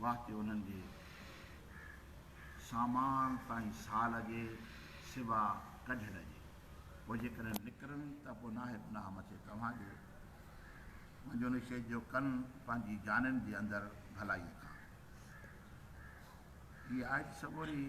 وقت انهن جي سامان تائين ساهه لڳي سوا ڪڍڻ جي. پوء جيڪڏهن نڪرن ته پوء ناهي گناهه مٿي توهان جي. منهنجو نشيد جو ڪن پنهنجي جانين جي اندر ڀلائيء کان. هيء آيت سڳوري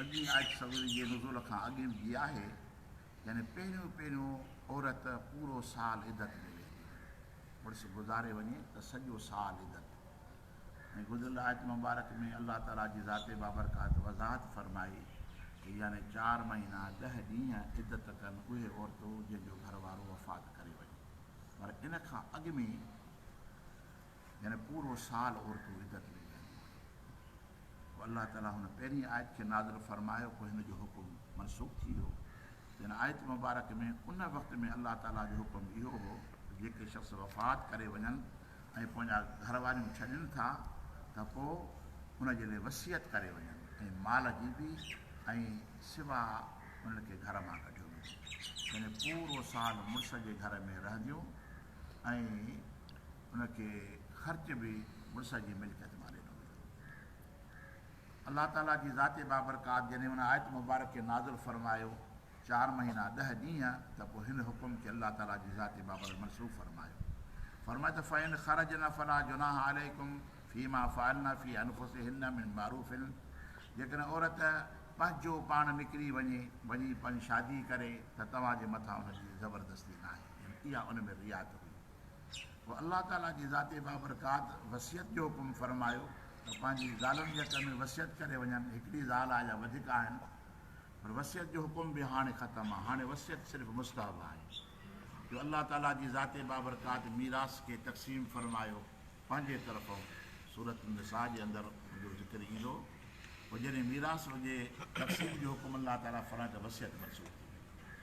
اڳين آيت سڳوري جي نزول کان اڳين جي آهي. يعني پهريون پهريون عورت پورو سال عدت ۾ ويهندي آهي، مڙس گذاري وڃي ته سڄو سال عدت ۽ گذريل آيت مبارڪ ۾ الله تعالي جي ذات بابرڪات وضاحت فرمائي ته يعني چار مهينا ڏهه ڏينهن عدت ڪن اهي عورتون جن جو گهر وارو وفات ڪري وڃي پر ان کان اڳ ۾ يعني پورو سال عورتون عدت ۾ ويهنديون آهن. پوء الله تعاليٰ هن پهرين آيت کي نازل فرمايو پوء هن جو حڪم منسوخ ٿي ويو. هن آيت مبارڪ ۾ ان وقت ۾ الله تعاليٰ جو حڪم اهو هو ته جيڪي شخص وفات ڪري وڃن ۽ پنهنجا گهر واريون ڇڏين ٿا ته پوء ان جي لئه وصيت ڪري وڃن ۽ مال جي به ۽ سوا انهن کي گهر مان ڪڍيو ويندو يعني پورو سال مڙس جي گهر ۾ رهنديون ۽ ان کي خرچ به مڙس جي ملڪيت مان ڏنو ويو. الله تعاليٰ جي ذات بابرڪات جڏهن ان آيت مبارڪ کي نازل فرمايو، چار مهينا ڏهه ڏينهن، ته پوء هن حڪم کي الله تعاليٰ جي ذات بابرڪ منسوخ فرمايو. فرمايو ته فإن خرجن فلا جناح عليكم فيما فعلن في أنفسهن من معروف جيڪڏهن عورت پنهنجو پاڻ نڪري وڃي، وڃي پنهنجي شادي ڪري، ته توهان جي مٿان ان جي زبردستي ناهي. يعني اها ان ۾ رعايت هئي. پوء الله تعالي جي ذات بابرڪات وصيت جو حڪم فرمايو ته پنهنجي زالن جي حق ۾ وصيت ڪري وڃن، هڪڙي زال آهي يا وڌيڪ آهن، پر وصيت جو حڪم به هاڻي ختم آهي، هاڻي وصيت صرف مستحب آهي، جو الله تعالي جي ذات بابرڪات ميراث کي تقسيم فرمايو پنهنجي طرفون، سورة النساء جي اندر ان جو ذڪر ايندو، پوء جڏهن ميراث هجي تقسيم جو حڪم الله تعالي فرمائي ته وصيت منسوخ ٿي وئي.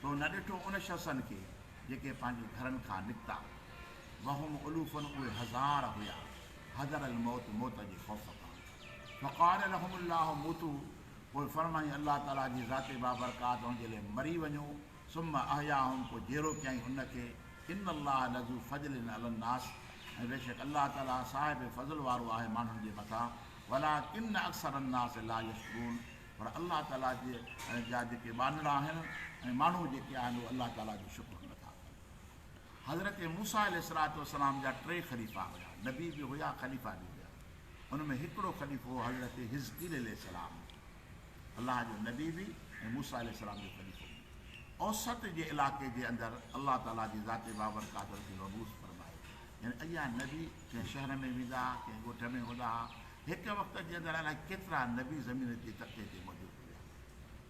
تو نه ڏٺو ان شخصن کي جيڪي پنهنجي گهرن کان نڪتا، وهم الوف اهي هزار هيا، حذر الموت موت جي خوف کان، فقال لهم الله موتو پوء فرمائين الله تعاليٰ جي ذات بابرڪات ان جي لئه مري وڃو، ثم احياهم پوء جيئرو ڪيائين ان کي، ان الله لذو فضل علي الناس ۽ بيشڪ الله تعاليٰ صاحب فضل وارو آهي ماڻهن جي مٿان، ولٰڪن اڪثر الناس لا يشڪرون. پر الله تعاليٰ جي جا جيڪي ٻانهڙا آهن ۽ ماڻهو جيڪي آهن اهي الله تعاليٰ جو شڪر نٿا ڪن. حضرت موسيٰ عليه الصلوة والسلام جا ٽي خليفا هيا، نبي به هيا خليفا به هيا. ان ۾ هڪڙو خليفو هو حضرت حزقيل عليه السلام، الله جو نبي به ۽ موسيٰ عليه السلام جو خليفو به. اوسط جي علائقي جي اندر الله تعاليٰ جي ذات بابرڪات ان کي مبعوث فرمايو. يعني اهيا نبي ڪنهن شهر ۾ ويندا ها، ڪنهن ڳوٺ ۾ هوندا ها، هڪ وقت جي اندر الائي ڪيترا نبي زمين جي تختي تي موجود هئا.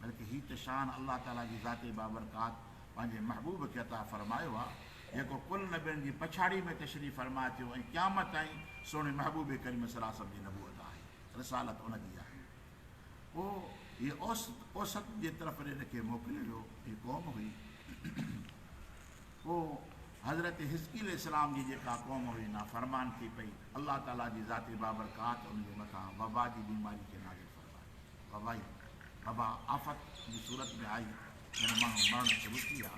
بلڪه هي ته شان الله تعاليٰ جي ذات بابرڪات پنهنجي محبوب کي عطا فرمايو آهي، جيڪو ڪل نبين جي پڇاڙي ۾ تشريف فرما ٿيو ۽ قيامت تائين سهڻي محبوب ڪريم صلعم جي نبوت آهي، رسالت ان جي آهي. پوء هي اوست، اوسط، جي طرف ڏي ان کي موڪليو ويو. هي قوم هئي. پوء حضرت حزقيل السلام جي جيڪا قوم هئي نافرمان ٿي پئي، الله تعاليٰ جي ذات بابرڪات ان جي مٿان وبا جي بيماري کي نازل فرمائي. وبائي، وبا، آفت جي صورت ۾ آئي جنهن ماڻهو مرڻ شروع ٿي ويا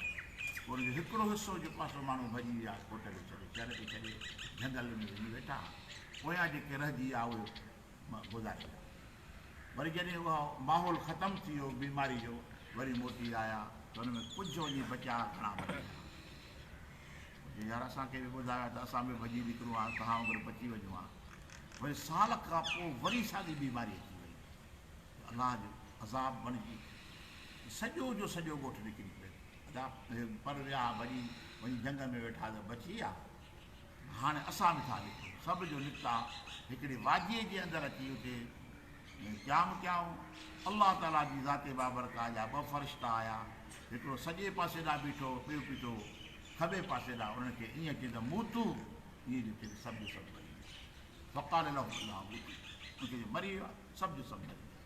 پوء ان جو هڪڙو حصو جيڪو آهي سو ماڻهو ڀڄي ويا ڪوٽ کي ڇڏي، شهر کي ڇڏي جهنگل ۾ وڃي ويٺا پويان جيڪي رهجي ويا اهي گذاري ويا. وري جڏهن اهو ماحول ختم ٿي ويو بيماري جو وري موٽي آيا ته ان ۾ ڪجهه وڃي بچيا گهڻا مري ويا. جي يار اسان کي به ٻڌايو ها ته اسان به ڀڄي نڪرون ها توهان وانگر بچي وڃون ها. وري سال کان پوء وري ساڳي بيماري اچي وئي ته الله جو عذاب بڻجي سڄو جو سڄو ڳوٺ نڪري پيو. ادا پر ويا ها ڀڄي وڃي جهنگ ۾ ويٺا ته بچي ويا. هاڻي اسان به ٿا لکون. سڀ جو نڪتا هڪڙي واديء جي اندر اچي اتي قيام ڪيائون. الله تعاليٰ جي ذات بابرڪاء جا ٻه فرشتا آيا، هڪڙو سڄي پاسي ڏانهن بيٺو، ٻيو بيٺو کٻي پاسي ڏانهن، انهن کي ائين چيائين ته موتو، ائين جو چيائين ته سڀ جو سڀ مري ويا. فقال لهم الله موتو، انهن کي چيائين مري ويو آهي، سڀ جو سڀ مري ويا.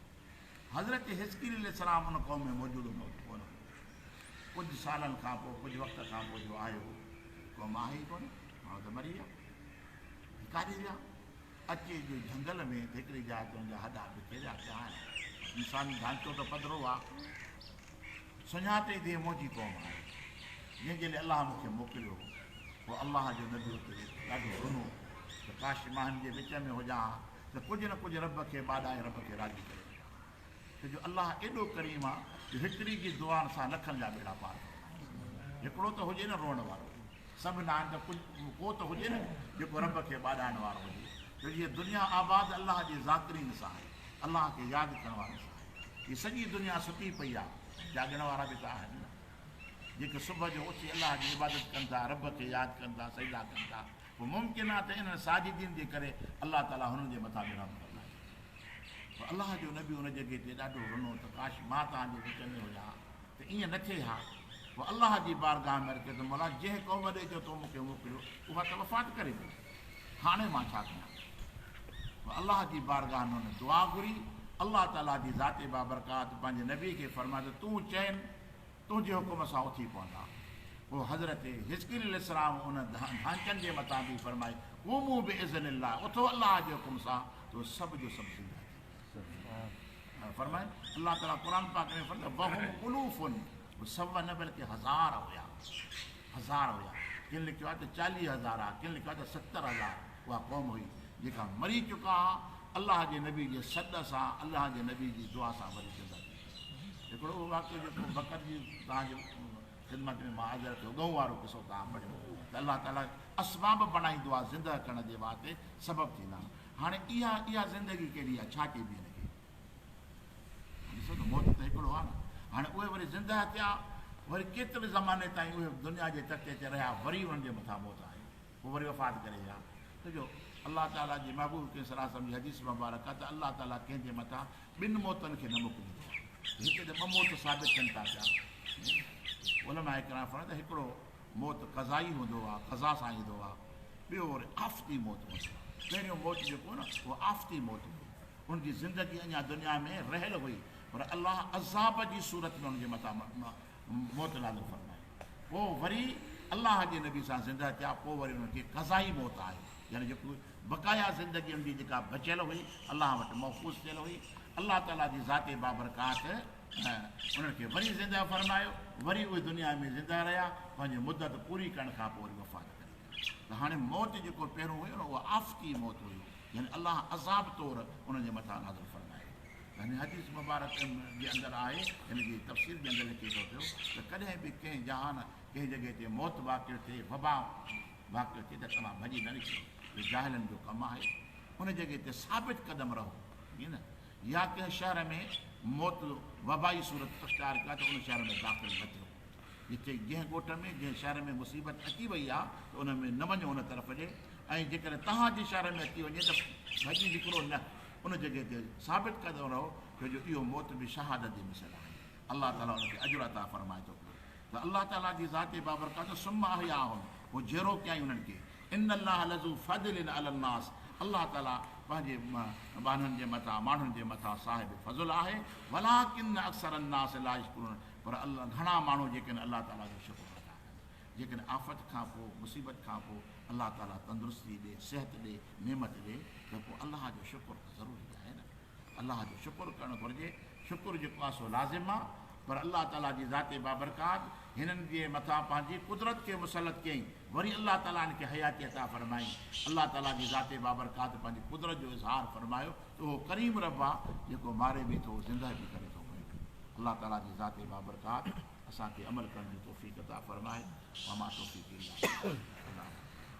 حضرت حزقيل عليه السلام ان قوم ۾ موجود هوندو ته ڪونه هوندو. ڪجهه سالن کان پوء، ڪجهه وقت کان پوء جو آيو، قوم آهي ئي ڪونه. ماڻهو ته مري ويا. هي ڪاڏي ويا؟ اچي جو جهنگل ۾ هڪڙي جاء تي ان جا هڏا بکيريا پيا آهن. انساني ڍانچو ته پڌرو آ. سڃاتي ته هي منهنجي قوم آهي. جنهن جي لاء الله مون کي موڪليو هو. پوء الله جو نبي اتي ويٺو، ڏاڍو رنو ته ڪاش مان هن جي وچ ۾ هجان ها. ته ڪجهه نه ڪجهه رب کي ٻاڏائي رب کي راضي ڪري وڃان ڇو جو الله ايڏو ڪريم آ جو هڪڙي جي دعائن سان لکن جا ٻيڙا پار ڪري هڪڙو ته هجي نه روئڻ وارو سڀ نه آهن ته ڪجهه ڪو ته هجي نه جيڪو رب کي ٻاڏائڻ وارو هجي ڇو جو هي دنيا آباد الله جي ذاڪرين سان آهي الله کي ياد ڪرڻ وارن سان آهي هي سڄي دنيا ستي پئي آ جاڳڻ وارا به ته آهن نه جيڪي صبح جو اٿي الله جي عبادت ڪن ٿا رب کي ياد ڪن ٿا سجدا ڪن ٿا پوء ممڪن آهي ته انهن ساجدين جي ڪري الله تعالي هنن جي مٿان به رحم فرمائي ڇڏي. پوء الله جو نبي ان جڳهه تي ڏاڍو رنو ته ڪاش مان توهان جي وچ ۾ هجان ها ته ائين نه ٿئي ها. پوء الله جي بارگاهه ۾ عرض ڪيو ته مولا جنهن قوم ڏي جو تو مون کي موڪليو اها ته وفات ڪري وئي. هاڻي مان ڇا ڪيان؟ پوء الله جي بارگاهه ۾ هن دعا گهري. الله تعالي جي ذات بابرڪات پنهنجي نبي کي فرمايو ته تون چئين، تنهنجي حڪم سان اٿي پوندا. پوء حضرت حزقيل عليه السلام ان ڌانچن جي متان به فرمائي، قوموا باذن الله، اٿو الله جي حڪم سان، تو سڀ جو سڀ زنده ٿي ويندا. فرمائن الله تعالي قرآن پاڪ ۾ فرمائي وهم الوف هو سوه نه بلڪه هزار هيا هزار هيا ڪن لکيو آهي ته چاليهه هزار ها ڪن لکيو آهي ته ستر هزار اها قوم هئي جيڪا مري چڪا ها الله جي نبي جي سڏ سان الله جي نبي جي دعا سان وري زنده ٿي هڪڙو اهو واقعو جيڪو بکر جي توهان جي خدمت ۾ مان حاضر ٿيو ڳئون وارو قصو توهان پڙهيو ته الله تعالي اسباب بڻائي دعا زنده ڪرڻ جي واسطي سبب ٿيندا هاڻي اها اها زندگي ڪهڙي آهي ڇا چئبي هن کي ڏسو ته موت ته هڪڙو آهي نه هاڻي اهي وري زنده ٿيا وري ڪيتري زماني تائين اهي دنيا جي تختي تي رهيا وري انهن جي مٿان موت آئي پوء وري وفات ڪري ويا. ڇو جو الله تعاليٰ جي محبوب ڪنهن صلاح وسلم جي حديث مبارڪ آهي ته الله تعاليٰ ڪنهن جي مٿان ٻن موتن کي نه موڪليندو آهي ته هتي ته ٻه موت ثابت ٿين ٿا پيا ۽ علماء ڪرام فرمائن ته هڪڙو موت قضائي هوندو آهي قضا سان ايندو آهي ٻيو وري آفتي موت هوندو آهي پهريون موت جيڪو هو نه اهو آفتي موت هئي ان جي زندگي اڃا دنيا ۾ رهيل هئي پر الله عذاب جي صورت ۾ ان جي مٿان موت نازل فرمائي پوء وري الله جي نبي سان زنده ٿيا پوء وري انهن کي قضائي موت آئي يعني جيڪو بقايا زندگي انهن جي جيڪا بچيل هئي الله وٽ محفوظ ٿيل هئي الله تعالي جي ذات بابرڪات انهن کي وري زنده فرمايو وري اهي دنيا ۾ زنده رهيا پنهنجي مدت پوري ڪرڻ کان پوء وري وفات ڪري ويا ته هاڻي موت جيڪو پهريون هيو نه اها آفتي موت هيو يعني الله عذاب طور انهن جي مٿان نازل فرمايو هن حديث مبارڪ جي اندر آهي، هن جي تفسير جي اندر لکي ٿو پيو ته ڪڏهن به ڪنهن جهان، ڪنهن جڳهه تي موت واقع ٿئي، وبا واقع ٿئي ته توهان ڀڄي نه نڪرو، اهو جاهلن جو ڪم آهي، ان جڳهه تي ثابت قدم رهو، ائين نه؟ يا ڪنهن شهر ۾ موت وبائي صورت اختيار ڪئي ته ان شهر ۾ داخل نه ٿيو، جتي جنهن ڳوٺ ۾ جنهن شهر ۾ مصيبت اچي وئي آهي ته ان ۾ نه وڃو ان طرف ڏي ۽ جيڪڏهن توهان جي شهر ۾ اچي وڃي ته ڀڄي نڪرو نه. ان جڳهه تي ثابت ڪندو رهو ڇو جو اهو موت به شهادت جي مثل آهي الله تعالي ان کي اجر عطا فرمائي ٿو پيو ته الله تعالي جي ذات بابرڪات ثم احياهم پوء جيرو ڪيائين انهن کي ان الله لذو فضل علی الناس الله تعالي پنهنجي ٻانهن جي مٿان ماڻهن جي مٿان صاحب فضل آهي ولاڪن اڪثر الناس لا يشڪرون پر الله گهڻا ماڻهو جيڪن الله تعالي جو شڪر نٿا ڪن جيڪڏهن آفت کان پوء، مصيبت کان پوء، الله تعاليٰ تندرستي ڏي، صحت ڏي، نعمت ڏي ته پوء الله جو شڪر ته ضروري آهي نه. الله جو شڪر ڪرڻ گهرجي. شڪر جيڪو آهي سو لازم آهي. پر الله تعاليٰ جي ذات بابرڪات هنن جي مٿان پنهنجي قدرت کي مسلط ڪيائين. وري الله تعاليٰ هن کي حياتي عطا فرمائي. الله تعاليٰ جي ذات بابرڪات پنهنجي قدرت جو اظهار فرمايو ته اهو ڪريم رب آهي جيڪو ماري به ٿو زنده به ڪري ٿو پيو. الله تعاليٰ جي ذات بابرڪات اسان کي عمل ڪرڻ جي توفيق عطا فرماء وما توفيقي الا بالله.